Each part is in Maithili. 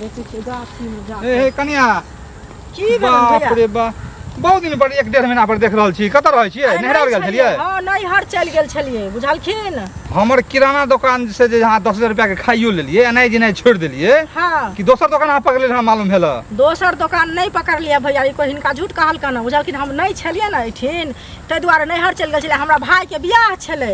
देखै छियै गाछीमे जा हे हे कनिया की भेल बाप भैया रे बा बहुत दिन पर एक डेढ़ महीना पर देख रहल छी कतऽ रहै छियै अरे नैहरा गेल छलियै हँ नैहर चलि गेल छलियै बुझलखिन हमर किराना दोकान से जे अहाँ दस हजार रुपया के खाइयो लेलियै एनाइ जेनाइ छोड़ि देलियै हँ कि दोसर दोकान अहाँ पकड़ले रहै मालूम भेल दोसर दोकान नहि पकड़लियै भैया ई कोइ हिनका झूठ कहलकन हँ बुझलखिन हम नहि छलियै ने एहिठिन ताहि दुआरे नैहर चलि गेल छलियै हमरा भायके बियाह छलै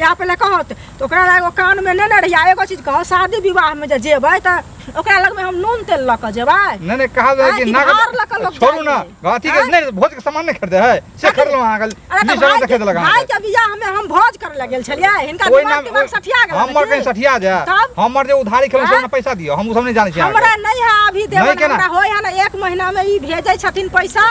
इएह पहिले कहत तऽ ओकरा लए एगो कानमे लेने रहियै आ एगो चीज कहत शादी विवाहमे जे जेबै तऽ ओकरा लगमे हम नून तेल लऽ कऽ जेबै नहि नहि कहल जाइ आँय, कि कि नाग भार लऽ कऽ लोक छोड़ू ना जाइ छै। अथी के आँय? नहि भोज के सामान नहि खरीदे है से खरीदलहुँ अहाँ कल अरे तऽ भाई देखे देलक के- भाई अहाँ के बियाहमे हम भोज करे लए गेल छलियै हिनका ओहि दिमाग नाम दिमाग सठिया गेल हमर कहीं सठिया जाए तब? हमर जे उधारी खेलहुँ से आँय? हमरा पैसा दियो हम उ सब नहि जानै छी अहाँके। हमरा नहीं है अभी देवन केना? हमरा होय है ना एक महीना में ई भेजे छथिन पैसा